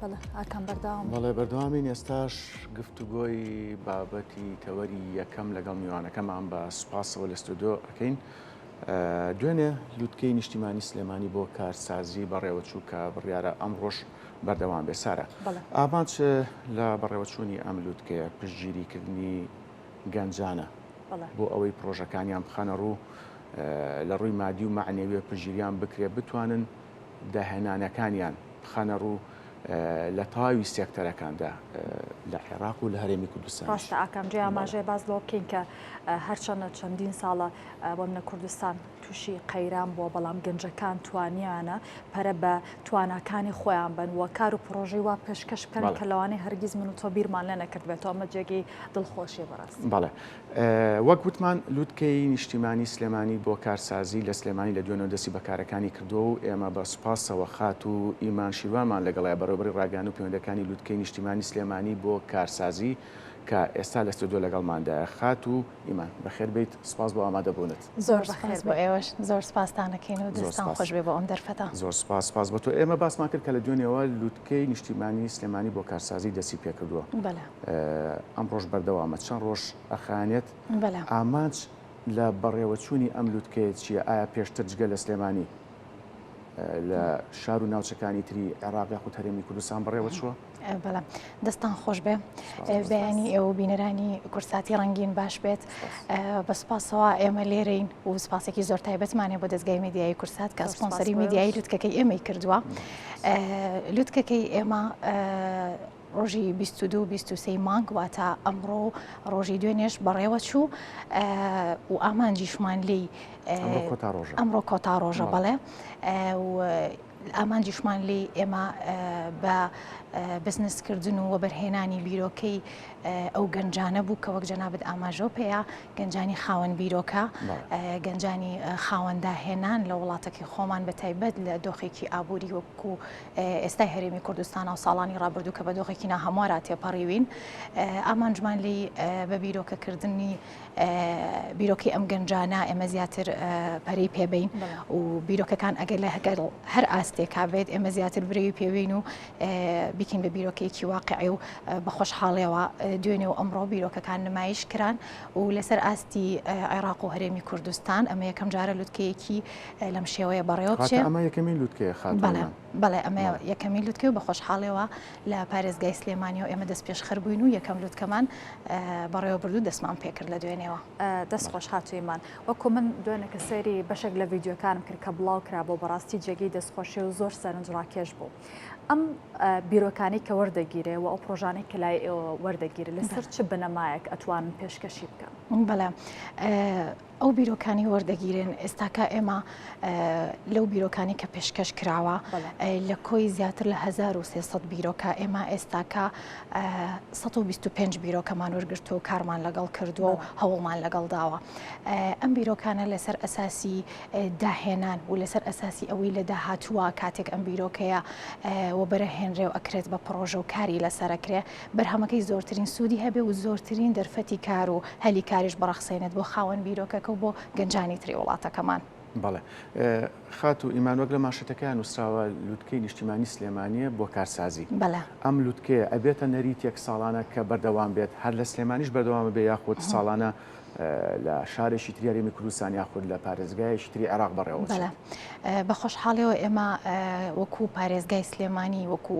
ئاکام بەرداوام بەڵێ بەردەوامین ئێستاش گفتوگۆی بابەتی تەوەری یەکەم لەگەڵ میوانەکەمان بە سوپاسەوە لە ستۆدۆ ئەەکەین دوێنێ لوتکەی نیشتیمانی سلێمانی بۆ کارسازی بەڕێوەچوو کە بڕیارە ئەم ڕۆژ بەردەوام بێ سارە ئامانچ لە بەڕێوەچوونی ئەم لوتکەیە پشتگیریکردنی گەنجانە بۆ ئەوەی پرۆژەکانیان بخەنە ڕوو لە ڕووی مادی و معنەویە پژیریان بکرێ بتوانن داهێنانەکانیان بخەنە ڕوو لە تەواوی سێکتەرەکاندا لە عێراق و لە هەرێمی کوردستان. ڕاستە ئاکام جێی ئاماژەیە باس لەوە بکەین کە هەرچەندە چەندین ساڵە بەمنە کوردستان تووشی قەیران بووە بەڵام گەنجەکان توانیانە پەرە بە تواناکانی خۆیان بن و کار و پرۆژی وا پێشکەش بکەن کە لەوانەیە هەرگیز من و تۆ بیرمان لە نەکردبێتەوە ئەمە جێگەی دڵخۆشیە بەڕاست بەڵێ وەک وتمان لوتکەی نیشتیمانی سلێمانی بۆ کارسازی لە سلێمانی لە دوێنەوە دەستی بە کارەکانی کردووە و ئێمە بە سوپاسەوە خاتوو ئیمان شیروانمان لەگەڵە بەڕێوەبەری ڕاگەیاند و پەیوەندەکانی لوتکەی نیشتیمانی سلێمانی بۆ کارسازی کە ئێستا لە ستۆدیۆ لەگەڵماندایە. خاتوو ئیمان بەخێر بێیت سوپاس بۆ ئامادەبوونت. زۆر سوپاس بۆ ئێوەش زۆر سوپاستان ئەکەین و دەستان خۆش بێ بۆ ئەم دەرفەتە. زۆر سوپاس سوپاس بۆ تۆ ئێمە باسمان کرد کە لە دوێنێوە لوت. کەی نیشتیمانی سلێمانی بۆ کارسازی دەستی پێکردووە ئەمڕۆژ بەردەوامە چەند ڕۆژ ئەخانێت ئامانج لە بەڕێوەچوونی ئەم لوتکەیە چییە ئایا پێشتر جگە لە سلێمانی لە شار و ناوچەکانی تری عێراقی خود هەرێمی کوردستان بڕێوە چووە بەڵام دەستان خۆش بێ بەیانی ئێوە بینەرانی کورساتی ڕنگین باش بێت بە سپاسەوە ئێمە لێرەین و سپاسێکی زۆر تایبەتمانێ بۆ دەستگای میدیایی کورسات کە سپۆنسەری میدیایی لوتکەکەی ئێمەی کردووە. لوتکەکەی ئێمە ڕۆژی 22 23 مانگ واتە ئەمڕۆ و ڕۆژی دوێنێش بەڕێوە چوو و ئامانجیشمان لی ئەمڕۆ کۆتا ڕۆژە بەڵێ ئامانجیشمان لی ئێمە بە بزنسکردن و وەبەرهێنانی بیرۆکەی ئەو گەنجانە بوو کە وەک جەنابت ئاماژەو پێیا گەنجانی خاوەن بیرۆکە گەنجانی خاوەندا هێنان لە وڵاتەکەی خۆمان بە تایبەت لە دۆخێکی ئابووری وەکو ئێستای هەرێمی کوردستان و ساڵانی ڕابردوو کە بە دۆخێکی ناهەموارا تێپەڕیوین ئامانجمان لی بە بیرۆکەکردنی بیرۆکی ئەم گەنجانە ئێمە زیاتر پەری پێبین و بیرۆکەکان ئەگەر لە هەگەر هەر ئاستێکا بێت ئێمە زیاتر برەوی پێوین و بیکەین بە بیرۆکەیەکی واقعی و بە خۆشحاڵیەوە دوێنێ و ئەمڕۆ بیرۆکەکان نمایش کران و لەسەر ئاستی عێراق و هەرێمی کوردستان ئەمە یەکەم جارە لوتکەیەکی لەم شێوەیە بەڕێوە ئەمە یەکەمی لوتکەیە خان بەڵێ ئەمە یەکەمی لوتکە و بە خۆشحاڵەوە لە پارێزگای سلێمانی و ئێمە دەست پێش خەربووین و یەکەم لوتکەمان بەڕێوە بردو دەستمان پێکرد لە دوێنێەوە دەست خۆش هاتوویمان وەکو من دوێنەکە سەیری بەشێک لە ڤیددیوکانم کرد کە بڵاو کرا بۆ بەڕاستی جێگەی دەستخۆشی و زۆر سەرنج ڕاکێش بوو. ئەم بیرۆکانەی کە وەردەگیرێ و ئەو پرۆژانەی کە لای ئێوە وەردەگیرێت لەسەر چ بنەمایەک ئەتوانن پێشکەشی بکەن بەڵێ ئەو بیرۆکانی وەردەگیرێن ئێستاکە ئێمە لەو بیرۆکانی کە پێشکەش کراوە لە کۆی زیاتر لە 1300 بیرۆکە ئێمە ئێستاکە 125 بیرۆکەمان وەرگرتو و کارمان لەگەڵ کردووە و هەوڵمان لەگەڵ داوە ئەم بیرۆکانە لەسەر ئەساسی داهێنان و لەسەر ئەساسی ئەوەی لە داهاتووە کاتێک ئەم بیرۆکەیە وەبەرە هێنرێ و ئەکرێت بە پڕۆژە و کاری لەسەر ئەکرێ بەرهەمەکەی زۆرترین سوودی هەبێ و زۆرترین دەرفەتی کار و هەلی کاریش بڕەخسێنێت بۆ خاوەن بیرۆکەکە و بۆ گەنجانی تری وڵاتەکەمان. بەڵێ خاتوو ئیمان وەک لە ماشێتەکەیا نووسراوە لوتکەی نیشتیمانی سلێمانیە بۆ کارسازی ئەم لوتکەیە ئەبێتە نەریتێک ساڵانە کە بەردەوام بێت هەر لە سلێمانیش بەردەوامە بێ یاخود ساڵانە لە شارێکی تری هەرێمی کوردستان یاخود لە پارێزگایەکی تری عێراق بەڕێوە بەڵێ بە خۆشحاڵیەوە ئێمە وەکو پارێزگای سلێمانی وەکو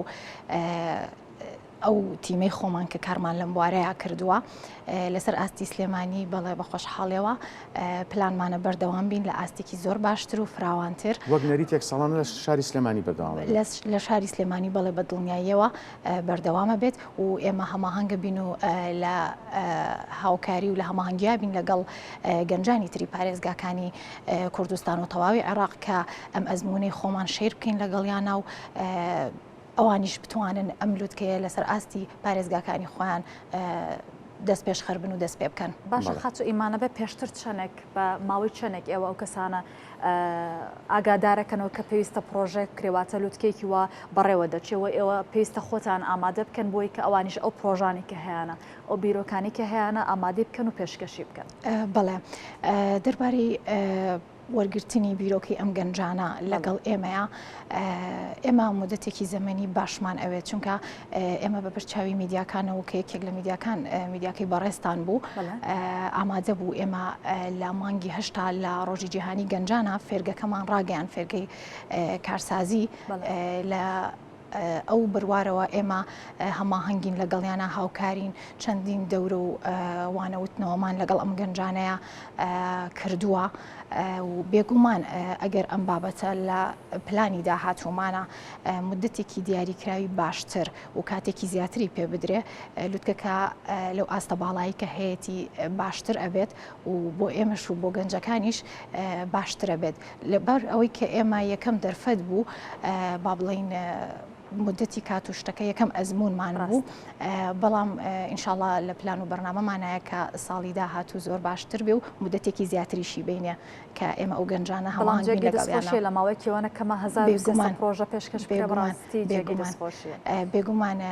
ئەو تیمەی خۆمان کە کارمان لەم بوارەیە کردووە لەسەر ئاستی سلێمانی بەڵێ بە خۆشحاڵەوە پلانمانە بەردەوام بین لە ئاستێکی زۆر باشتر و فراوانتر وەک نەریتێک ساڵانە لە شاری سلێمانی بەداوام لە شاری سلێمانی بەڵێ بە دڵنیاییەوە بەردەوامە بێت و ئێمە هەماهەنگە بین و لە هاوکاری و لە هەماهنگیا بین لەگەڵ گەنجانی تری پارێزگاکانی کوردستان و تەواوی عێراق کە ئەم ئەزمونەی خۆمان شیر بکەین لەگەڵیانە و ئەوانیش بتوانن ئەم لوتکەیە لەسەر ئاستی پارێزگاکانی خۆیان دەست پێش خەربن و دەست پێ بکەن باشە خاچ و ئیمانە بە پێشتر چەنێک بە ماوەی چەنێک ئێوە ئەو کەسانە ئاگادارەکەنەوە کە پێویستە پڕۆژەیەک بکرێ واتە لوتکەیەکی وا بەڕێوە دەچێ و ئێوە پێویستە خۆتان ئامادە بکەن بۆی کە ئەوانیش ئەو پرۆژانی کە هەیەە ئەو بیرۆکانی کە هەیەە ئامادەی بکەن و پێشکەشی بکەن بەڵێ دەربارەی وەرگرتنی بیرۆکەی ئەم گەنجانە لەگەڵ ئێمەیە ئێمە مدەتێکی زەمەنی باشمان ئەوێت چونکە ئێمە بە بەر چاوی میدیاکانەوە کە یەکێک لە میدیاکان میدیاکەی بەڕێستان بوو ئامادە بوو ئێمە لە مانگی هەشتا لە ڕۆژی جیهانی گەنجانە فێرگەکەمان ڕاگەیان فێرگەی کارسازی لە ئەو بروارەوە ئێمە هەماهنگین لەگەڵیانە هاوکارین چەندین دەورە و وانەوتنەوەمان لەگەڵ ئەم گەنجانەیە کردووە و بێگومان ئەگەر ئەم بابەتە لە پلانی داهاتوومانە مدەتێکی دیاریکراوی باشتر و کاتێکی زیاتری پێ بدرێ لوتکەکە لەو ئاستە باڵایی کە هەیەی باشتر ئەبێت و بۆ ئێمەش و بۆ گەنجەکانیش باشترە بێت لەبەر ئەوەی کە ئێمە یەکەم دەرفەت بوو با بڵین مدەتی کات و شتەکە یەکەم ئەزمونمان بوو بەڵام ئینشاالله لە پلان و بەرنامەمانایە کە ساڵی داهات و زۆر باشتر بێ و مدەتێکی زیاتریشی بینە کە ئێمە ئەو گەنجانە هەڵان جێ دەست خۆشیە لە ماوەی کێوانە کەمە هزار گومان پرۆژە پێشکەش پێ بڕاستی جێگەی دەست خۆشیە بێگومانە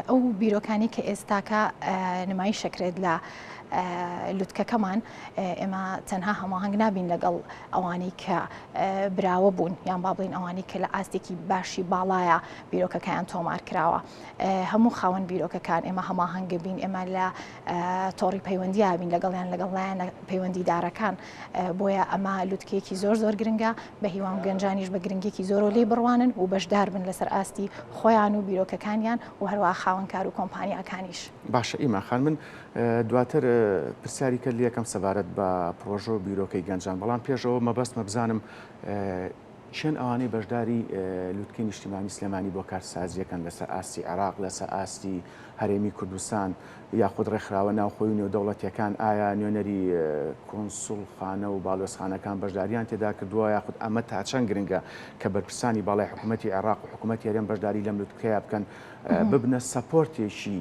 ئەو بیرۆکانی کە ئێستاکە نمایی شەکرێت لە لوتکەکەمان ئێمە تەنها هەماهنگ نابین لەگەڵ ئەوانەی کە براوە بوون یان با بڵین ئەوانەی کە لە ئاستێکی باشی باڵایە بیرۆکەکەیان تۆمار کراوە هەموو خاوەن بیرۆکەکان ئێمە هەماهنگە بین ئێمە لە تۆڕی پەیوەندیابین لەگەڵیان لەگەڵ لایەنە پەیوەندیدارەکان بۆیە ئەمە لوتکەیەکی زۆر زۆر گرنگە بە هیوام گەنجانیش بە گرنگێکی زۆر و لی بڕوانن و بەشدار بن لەسەر ئاستی خۆیان و بیرۆکەکانیان و هەروە خاوەنکار و کۆمپانیاکانیش باشە ئیماخان من دواتر پرسیاری کە لەکەم سەبارەت بە پرۆژۆ بیرۆکەی گەنجان بەڵام پێشەوە مەبەست مەبزانم کێن ئەوانەی بەشداری لوتکەی نیشتیمانی سلێمانی بۆ کارتسازییەکەن لەسەر ئاستی عێراق لەسەر ئاستی هەرێمی کوردستان یاخود ڕێکخراوە ناوخۆی و نێودەوڵەتیەکان ئایا نوێنەری کۆنسول خانە و باڵۆسخانەکان بەشداریان تێدا کردووە یاخود ئەمە تا چەند گرنگە کە بەرپرسانی باڵای حکوومەتتی عێراق و حکوومەتتی هەرێم بەشداری لەم لوتکەیە بکەن ببنە سەپۆرتێکی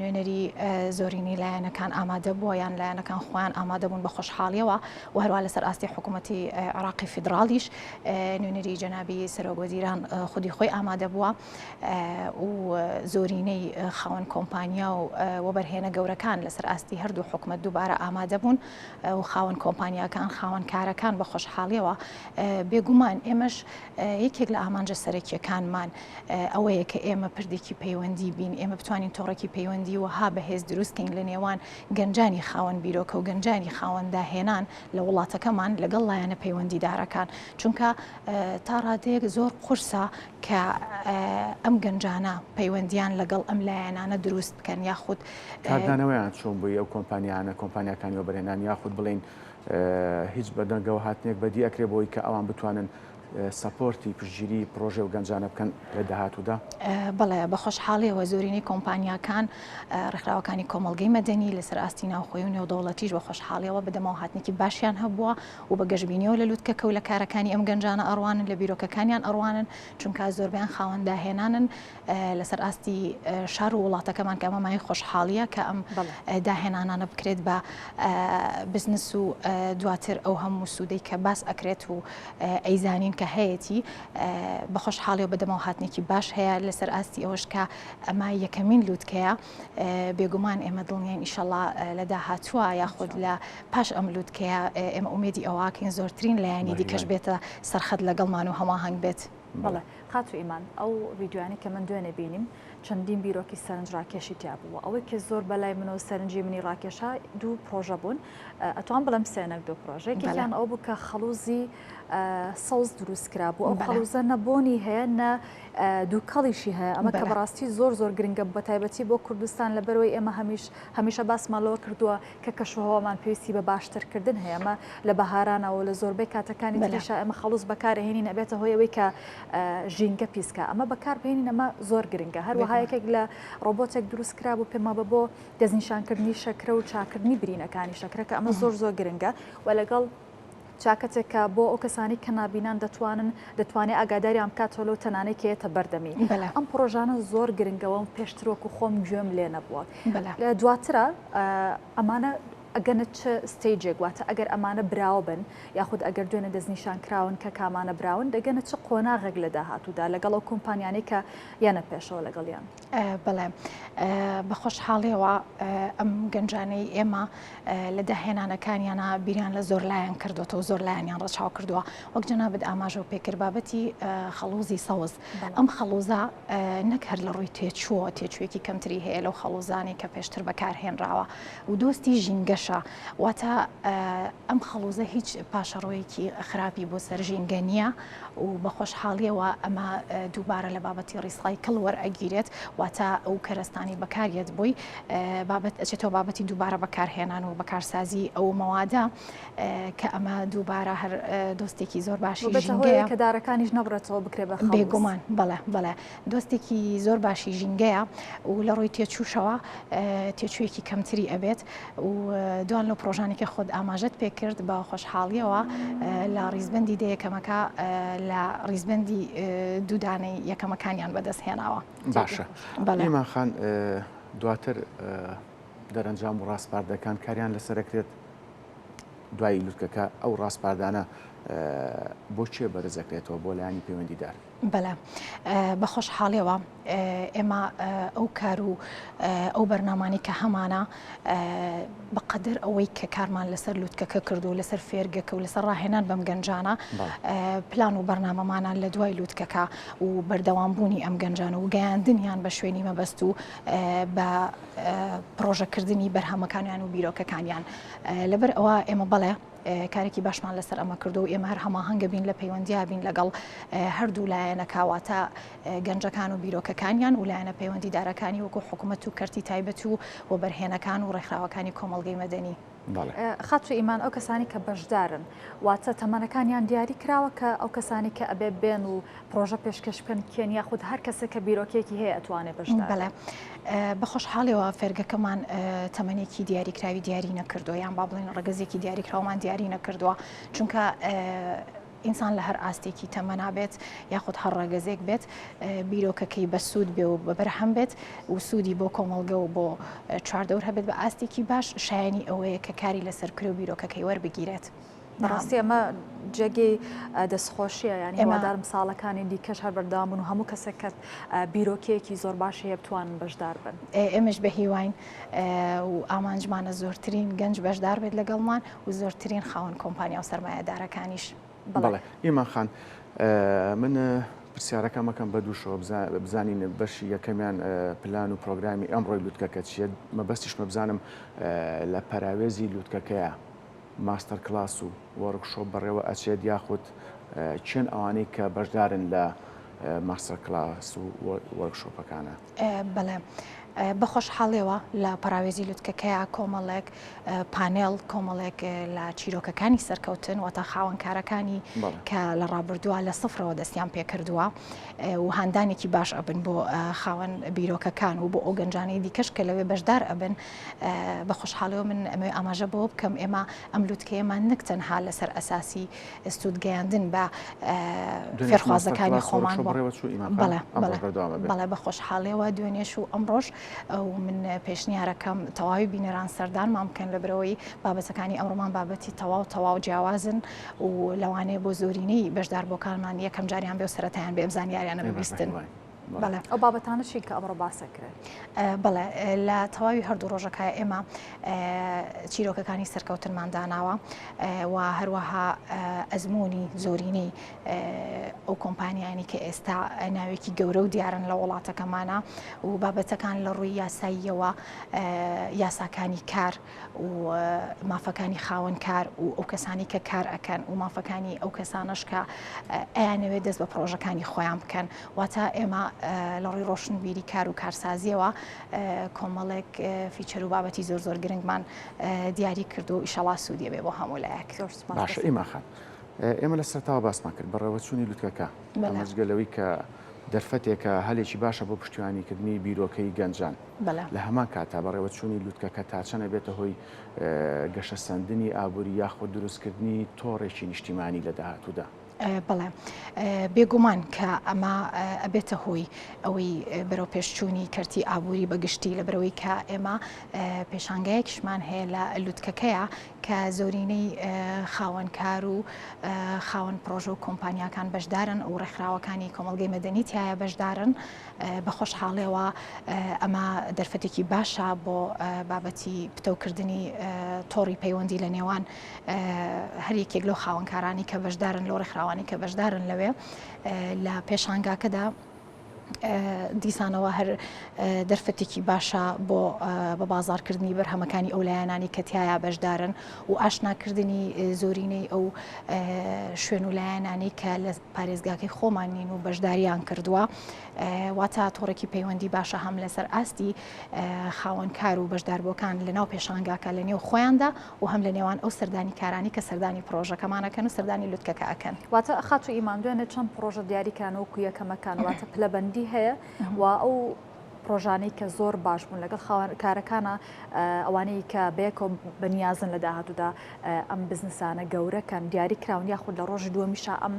نوێنەری زۆرینەی لایەنەکان ئامادە بووە یان لایەنەکان خۆیان ئامادە بوون بە خۆشحاڵیەوە و هەروە لەسەر ئاستی حکوومەتتی عراقی فیدراالیش نوێنەری جەنابی سەرۆگۆزیران خودی خۆی ئامادە بووە و زۆرینەی خاوەن کۆمپانیا و وەبەرهێنە گەورەکان لەسەر ئاستی هەردوو حکوومەت دووبارە ئامادە بوون و خاوەن کۆمپانیاکان خاوەن کارەکان بە خۆشحاڵیەوە بێگومان ئێمەش یەکێک لە ئامانجە سەرەکیەکانمان ئەوەیە کە ئێمە پردێکی پەیوەندی بین ئێمە بتوانین تۆڕێکی پەیوەندی وەها بەهێز دروستکەین لە نێوان گەنجانی خاوەن بیرۆکە و گەنجانی خاوەنداهێنان لە وڵاتەکەمان لەگەڵ لایەنە پەیوەندیدارەکان چونکە تا ڕادەیەک زۆر قورسە کە ئەم گەنجانە پەیوەندیان لەگەڵ ئەم لایەنانە دروست بکەن یاخود کاردانەوەیان چۆن بووی ئەو کۆمپانیانە کۆمپانیەکانی وەبەرێنان یاخود بڵین هیچ بەدەنگەوە هاتنێک بەدی ئەکرێت بۆی کە ئەوان بتوانن سەپۆرتی پشتگیری پرۆژەی و گەنجانە بکەن لە داهاتوودا؟ بەڵێ بە خۆشحاڵیەوە زۆرینەی کۆمپانیاکان ڕێکخراوەکانی کۆمەڵگەی مەدەنی لەسەر ئاستی ناوخۆی و نێودەوڵەتیش بە خۆشحاڵیەوە بەدەمەوە هاتنێکی باشیان هەبووە و بە گەشبینیەوە لە لوتکەکە و لە کارەکانی ئەم گەنجانە ئەڕوانن لە بیرۆکەکانیان ئەڕوانن چونکە زۆربەیان خاوەن داهێنانن لەسەر ئاستی شار و وڵاتەکەمان کە ئەمە مایەی خۆشحاڵییە کە ئەم داهێنانانە بکرێت بە بزنس و دواتر ئەو هەموو سوودەی کە باس ئەکرێت و ئەیزانین کە هەیەی بە خۆشحاڵی و بەدەمەوە هاتنێکی باش هەیە لەسەر ئاستی ئەوش کە ئەمە یەکەمین لووتکەیە بێگومان ئێمە دڵنیین ئیشەڵا لە داهاتووە یاخود لە پاش ئەم لووتکەیە ئێمە ئومێدی ئەوواکەین زۆرترین لایەنی دیکەش بێتە سەرخەت لەگەڵمان و هەماهنگ بێت. بەڵێ خاتو ئیمان ئەو ڤیدیۆیانەی کە من دوێنێ بینیم چەندین بیرۆکی سەرنج ڕاکێشی تیا بوو و ئەوەی کە زۆر بەلای من و سەرنجی منی ڕاکێشا دوو پرۆژە بوون ئەتوان بڵم سێنەر دوو پرۆژێک یان ئەو بوو کە خەڵوزی سەوز دروست کرا بوو ئەو خەڵوزە نەبوونی هەیە نە دووکەڵیشی هەیە ئەمە کە بەڕاستی زۆر زۆر گرنگە بە تایبەتی بۆ کوردستان لە بەرەوەی ئێمە هەمیش هەمیشە باسمالەوە کردووە کە کەشوهەوامان پێویستی بە باشترکردن هەیە ئەمە لە بەهارانەوە و لە زۆربەی کاتەکانی تریشا ئێمە خەڵوز بەکارهێنین ئەبێتە هۆی ئەوەی کە ژینگە پیسکە ئەمە بەکاربهێنین ئەمە زۆر گرنگە هەروەها یەکێک لە ڕۆبۆتێک دروست کرا بوو پێما بە بۆ دەستنیشانکردنی شەکرە و چاکردنی برینەکانی شەکرەکە ئەمە زۆر زۆر گرنگە و لەگەڵ چاکەتێک کە بۆ ئەو کەسانەی کە نابینان دەتوانن دەتوانێت ئاگاداریان بکاتەوە لەو تەنانەی کە یێتە بەردەمی ئەم پرۆژانە زۆر گرنگە وەم پێشتر وەکو خۆم گوێم لێ نەبووە لە دواترا ئەمانە ئەگەنە چ ستەیجێک واتە ئەگەر ئەمانە براوە بن یاخود ئەگەر دوێنێ دەستنیشان کراون کە کامانە براون دەگەنە چ قۆناغێک لە داهاتوودا لەگەڵ ئەو کۆمپانیانەی کە یەنە پێشەوە لەگەڵیان. بەڵێ بە خۆشحاڵیەوە ئەم گەنجانەی ئێمە لە داهێنانەکانیانە بیریان لە زۆر لایەن کردوەوە زۆر لایەنیان ڕەچاو کردووە وەک جەنابەت ئاماژەوە پێکرد بابەتی خەڵوزی سەوز ئەم خەڵوزە نەک هەر لە ڕووی تێچووە تێچوێکی کەمتری هەیە لەو خەڵوزانی کە پێشتر بەکارهێنراوە و دۆستی ژینگەشە واتە ئەم خەڵوزە هیچ پاشەڕۆیەکی خراپی بۆ سەر ژینگە نییە و بە خۆشحاڵیەوە ئەمە دووبارە لە بابەتی ڕیسای کڵ وەرئەگیرێت واتە ئەو کەرەستانی بەکاریت بووی بابەت ئەچێتەوە بابەتی دووبارە بەکارهێنان و بەکارسازی ئەو مەوادە کە ئەمە دووبارە هەر دۆستێکی زۆر باشی کە دارەکانیش نەبڕێتەوە بکرێ بە بێگومان بەڵێ بەڵێ دۆستێکی زۆر باشی ژینگەیە و لە ڕووی تێچووشەوە تێچوویەکی کەمتری ئەبێت و دوان لەو پرۆژانێکی خۆت ئاماژەت پێ کرد بە خۆشحاڵیەوە لە ڕیزبندی دە یەکەمەکە لە ڕیزبندی دوودانەی یەکەمەکانیان بەدەست هێناوە باشە بەڵێماخان دواتر دەرەنجام و ڕاستپاردەکان کاریان لەسەرەکرێت دوای لوتکەکە ئەو ڕاستپاردانە بۆ چێ بەرزەکرێتەوە بۆ لایانی پەیوەندیدار بەلام بەخۆشحالیەوە ئێمە ئەو کار و ئەو بەرنامانی کە هەمانە بەقەدەر ئەوەی کە کارمان لەسەر لووتکەکە کرد و لەسەر فێرگەکە و لەسەر ڕاهێنان بەم گەنجانە پلان و بەرنامەمانان لە دوای لووتکەکە و بەردەوام بوونی ئەم گەنجان و گەیاندنیان بە شوێنی مەبەست و بە پرۆژەکردنی بەرهەمەکانیان و بیرۆکەکانیان لەبەر ئەوە ئێمە بەڵێ کارێکی باشمان لەسەر ئەمە کردو و ئێمە هەر هەماهەنگە بین لە پەیوەندیا بین لەگەڵ هەردوو لایەنە کاواتە گەنجەکان و بیرۆکەکانیان و لایەنە پەیوەندی دارەکانی وەکو حکوومەت و کەرتی تایبەت و و بەرهێنەکان و ڕێکخراوەکانی کۆمەلگەی مەدەنی. خاتو ئیمان ئەو کەسانی کە بەشدارن واتە تەمەنەکانیان دیاری کراوە کە ئەو کەسانی کە ئەبێ بێن و پرۆژە پێشکەش بکەن کێن یاخود هەر کەسێک کە بیرۆکێکی هەیە ئەتوانێت بەش بەڵێ بە خۆشحاڵیەوە فێرگەکەمان تەمەێکی دیاریکراوی دیاری نەکردو یان با بڵێن ڕگەزێکی دیاریکراومان دیاری نەکردووە چونکە ئینسان لە هەر ئاستێکی تەمەنابێت یاخود هەر ڕەگەزێک بێت بیرۆکەکەی بە سوود بێ و بە بەرهەم بێت و سوودی بۆ کۆمەڵگە و بۆ چواردەور هەبێت بە ئاستێکی باش شایانی ئەوەیە کە کاری لەسەر کرێ و بیرۆکەکەی وەربگیرێت. بەڕاستی ئەمە جێگەی دەستخۆشیە یانی هیوادارم ساڵەکانی دیکەش هەر بەردەوام بن و هەموو کەسێک کە بیرۆکەیەکی زۆر باشی هەیە بتوان بەشدار بن ئێمەش بە هیواین و ئامانجمانە زۆرترین گەنج بەشدار بێت لەگەڵمان و زۆرترین خاوەن کۆمپانیا و سەرمایەدارەکانیش بڵێ ئیمان خان من پرسیارەکەمەکەم بە دووشەوە بزانین بەشی یەکەمیان پلان و پرۆگرامی ئەمڕۆی لوتکەکە چیە مەبەستیشمە بزانم لە پەراوێزی لوتکەکەیە ماستەر کلاس و وۆرک شۆپ بەڕێوە ئەچێت یاخود کێن ئەوانەی کە بەشدارن لە ماستەر کلاس و وۆرک شۆپەکانە؟ بەڵێ بەخۆشحاڵیەوە لە پەراوێزی لوتکەکەیە کۆمەڵێک پانێڵ کۆمەڵێک لە چیرۆکەکانی سەرکەوتن وە تا خاوەنکارەکانی کە لە ڕابردووە لە سفرەوە دەستیان پێکردووە و هاندانێکی باش ئەبن بۆ خاوەن بیرۆکەکان و بۆ ئەو گەنجانەی دیکەش کە لەوێ بەشدار ئەبن بە خۆشحاڵیەوە من ئەمەوێ ئاماژە بەوە بکەم ئێمە ئەم لووتکەیەمان نەک تەنها لەسەر ئەساسی سوود گەیاندن بە فێرخوازەکانی خۆمان بەڵێ بە خۆشحاڵیەوە دوێنێش و ئەمڕۆژ ئەو من پێشنیارەکەم تەواوی بینەران سەردانمان بکەن لە برەوەی بابەتەکانی ئەوڕۆمان بابەتی تەواو تەواو جیاوازن و لەوانەیە بۆ زۆرینەی بەشدار بۆکانمان یەکەم جاریان بێ و سەرەتایان بێ ئەم زانیاریانە ببیستن. بەڵێ ئەو بابەتانە چین کە ئەمڕۆ باسە کرێت بەڵێ لە تەواوی هەردوو ڕۆژەکە ئێمە چیرۆکەکانی سەرکەوتنمان داناوە و هەروەها ئەزمموی زۆرینەی ئەو کۆمپانیانی کە ئێستا ناوێکی گەورە و دیارن لە وڵاتەکەمانە و بابەتەکان لە ڕووی یاساییەوە یاساکانی کار و مافەکانی خاوەن کار و ئەو کەسانی کە کار ئەکەن و مافەکانی ئەو کەسانەش کە ئەیانەوێت دەست بە پرۆژەکانی خۆیان بکەن واتە ئێمە لە ڕووی ڕۆشنبیری کار و کارسازیەوە کۆمەڵێک فیچەر و بابەتی زۆر زۆر گرنگمان دیاری کرد و ئیشەڵا سوودیە بێ بۆ هەموو لایەک باشە ئیماخان ئێمە لە سەرتاوە باسمان کرد بەڕێوەچوونی لوتکەکە ئەمەجگەلەوەی کە دەرفەتێکە هەلێکی باشە بۆ پشتیوانیکردنی بیرۆکەی گەنجان. لە هەمان کاتدا بەڕێوەچوونی لووتکەکە تا چەند ئەبێتە هۆی گەشەسەندنی ئابووری یاخود دروستکردنی تۆڕێکی نیشتیمانی لە داهاتوودا؟ بەڵێ، بێگومان کە ئەمە ئەبێتە هۆی ئەوەی بەرەوپێشچوونی کەرتی ئابووری بە گشتی لەبەرەوەی کە ئێمە پێشانگایەکیشمان هەیە لە لووتکەکەیە کە زۆرینەی خاوەن کار و خاوەن پرۆژە و کۆمپانیاکان بەشدارن و ڕێکخراوەکانی کۆمەڵگەی مەدەنی تایە بەشدارن بە خۆشحاڵێەوە ئەمە دەرفەتێکی باشە بۆ بابەتی پتەوکردنی تۆڕی پەیوەندی لە نێوان هەریەکێک لەو خاوەنکارانی کە بەشدارن لەو ڕێکخراوانی کە بەشدارن لەوێ لە پێشانگاکەدا دیسانەوە هەر دەرفەتێکی باشە بۆ بە بازارکردنی بەرهەمەکانی ئەو لایەنانی کە تایە بەشدارن و ئاشناکردنی زۆرینەی ئەو شوێن و لایەنانی کە لە پارێزگاکەی خۆمان نین و بەشداریان کردووە واتا تۆڕێکی پەیوەندی باشە هەم لەسەر ئاستی خاوەنکار و بەشداربووەکان لە ناو پێشانگاکە لە نێو خۆیاندا و هەم لە نێوان ئەو سەردانیکارانەی کە سەردانی پڕۆژەکەمان ئەکەن و سەردانی لوتکەکە ئەکەن. واتە خاتوو ئیمان دوێنێ چەند پڕۆژە دیاری کران وەکو یەکەمەکان واتە پلەبەندی هەیە و ئەو پڕۆژانەی کە زۆر باش بوون لەگەڵ خاوەن کارەکانە ئەوانەی کە بەیەکەوە بەنیازن لە داهاتوودا ئەم بزنسانە گەورەکەن دیاری کراون یاخود لە ڕۆژی دووەمیشا ئەم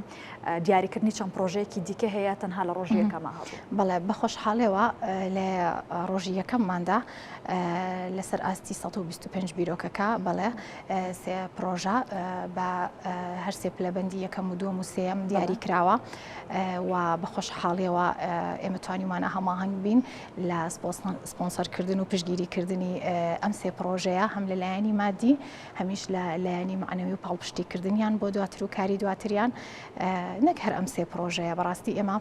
دیاریکردنی چەند پرۆژەیەکی دیکە هەیە تەنها لە ڕۆژی یەکەمە هەبوو بەڵێ بەخۆشحاڵێەوە لە ڕۆژی یەکەمماندا لەسەر ئاستی ١٢٥ بیرۆکەکە بەڵێ سێ پرۆژە بە هەرسێ پلەبندی یەکەم و دووەم و سێم دیاری کراوە و بە خۆشحاڵیەوە ئێمە توانیمانە هەماهنگ بین لە سپۆنسەرکردن و پشگیریکردنی ئەم سێ پرۆژەیە هەم لە لایەنی مادی هەمیش لە لایەنی معنەوی و پاڵپشتیکردنیان بۆ دواتر و کاری دواتریان نەک هەر ئەم سێ پرۆژەیە بەڕاستی ئێمە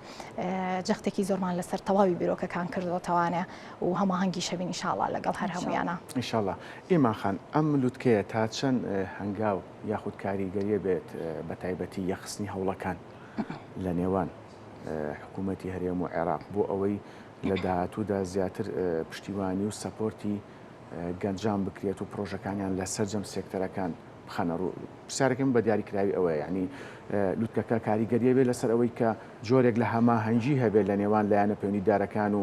جەختێکی زۆرمان لەسەر تەواوی بیرۆکەکان کردوەتەوانە و هەماهەنگیش هەبین ئیشاڵا لەگەڵ هەر هەموویانا. ان شاء اللە ئیمان خان ئەم لوتکەیە تا چەند هەنگاو یاخود کاریگەریە بێت بە تایبەتی یەخستنی هەوڵەکان لە نێوان حکوومەتی هەرێم و عێراق بۆ ئەوەی لە داهاتوودا زیاتر پشتیوانی و سەپۆرتی گەنجان بکرێت و پرۆژەکانیان لە سەرجەم سێکتەرەکان بخەنە ڕوو پرسیارەکەم بە دیاریکراوی ئەوەیە یعنی لوتکەکە کاریگەریە بێت لەسەر ئەوەی کە جۆرێک لە هەماهەنگی هەبێت لە نێوان لایەنە پەیوەندیدارەکان و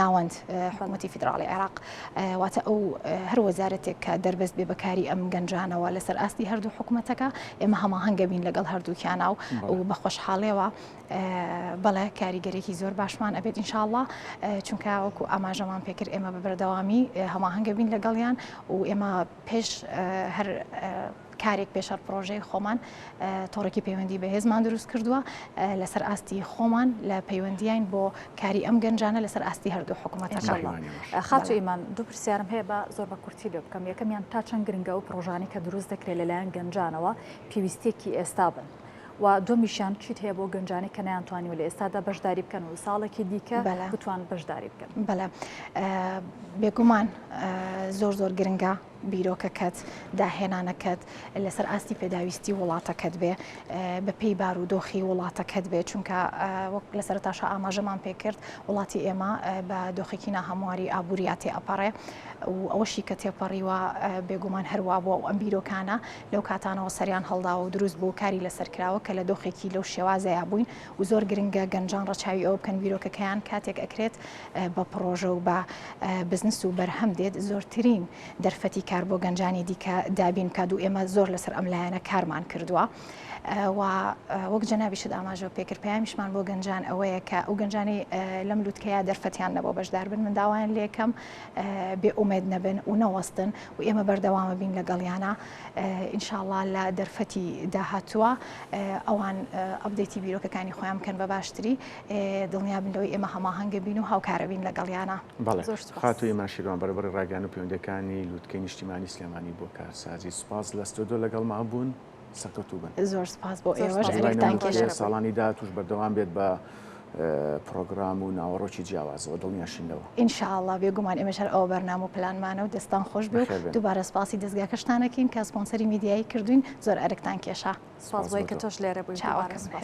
ناوەند حکوومەتی فیدراڵی عێراق واتە ئەو هەر وەزارەتێک کە دەربەست بێ بەکاری ئەم گەنجانەوە لەسەر ئاستی هەردوو حکوومەتەکە ئێمە هەماهنگە بین لەگەڵ هەردووکیانە و بە خۆشحاڵێەوە بەڵێ کاریگەرێکی زۆر باشمان ئەبێت ئینشاءله چونکە وەکو ئاماژەمان پێکرد ئێمە بە بەردەوامی هەماهنگە بین لەگەڵیان و ئێمە پێش هەر کارێک پێشەر پرۆژەی خۆمان تۆڕێکی پەیوەندی بەهێزمان دروست کردووە لەسەر ئاستی خۆمان لە پەیوەندیین بۆ کاری ئەم گەنجانە لەسەر ئاستی هەردوو حکوومەتەکە خاچ ئیمان دوو پرسیارم هەیە بە زۆر بە کورتی لێ بکەم یەکەمیان تا چەند گرنگە و پرۆژانی کە دروست دەکرێت لەلایەن گەنجانەوە پێویستێکی ئێستا بن. و دومیشیان چیت هەیە بۆ گەنجانی کە نیانتوانی و لە ئێستادا بەشداری بکەن و ساڵێکی دیکە بتوان بەشداری بکەن بەلا بێگومان زۆر زۆر گرنگە بیرۆکەکەت، داهێنانەکەت لەسەر ئاستی پێداویستی وڵاتەکەت بێ، بە پێی بار و دۆخی وڵاتەکەت بێ، چونکە وەک لە سەرەتاشا ئاماژەمان پێ کرد وڵاتی ئێمە بە دۆخێکی ناهەمواری ئابووریا تێ ئەپەڕێ و ئەوەشی کە تێپەڕیوە بێگومان هەر وا بووە و ئەم بیرۆکانە لەو کاتانەوە سەریان هەڵداوە و دروست بوو کاری لەسەر کراوە کە لە دۆخێکی لەو شێوازەیا بووین و زۆر گرنگە گەنجان ڕەچاوی ئەوە بکەن بیرۆکەکەیان کاتێک ئەکرێت بە پڕۆژە و بە بزنس و بەرهەم دێت زۆرترین دەرفەتی کار بۆ گەنجانی دیکە دابین بکات و ئێمە زۆر لەسەر ئەم لایەنە کارمان کردووە و وەک جەنابیشت ئاماژەوە پێکرد پەیامیشمان بۆ گەنجان ئەوەیە کە ئەو گەنجانی لەم لوتکەیە دەرفەتیان نەبەوە بەشدار بن من داوایان لێکەم بێ ئومێد نەبن و نەوەستن و ئێمە بەردەوامە بین لەگەڵیانە ئینشاڵا لە دەرفەتی داهاتووە ئەوان ئەبدەیتی بیرۆکەکانی خۆیان بکەن بە باشتری دڵنیابن لەوەی ئێمە هەماهەنگە بین و هاوکارەبین لەگەڵیانە خاتوی ماشیروان بەربڕی ڕاگەان و پەیوەندەکانی لووتکەی نیشتیمانی سلێمانی بۆ کارسازی سپاس لە ستۆدۆ لەگەڵ ما بوون سەرکەوتوو بن زۆر سپاس بۆ ئێوەش ساڵانی داهاتوش بەردەوام بێت بە پڕۆگرام و ناوەڕۆکی جیاوازەوە دڵنیاشین لەوە. ان شاء اللە بێگومان ئێمەش هەر ئەوە بەرنامە و پلانمانە و دەستان خۆش بێ و بەخێر بێن. دووبارە سپاسی دەزگاکەشتان ئەکەین کە سپۆنسەری میدیایی کردووین زۆر ئەرکتان کێشا. سپاس بۆ سوپاس بۆ تۆ. کە تۆش لێرە بووی. دووبارە چاوەکەم سوپاس.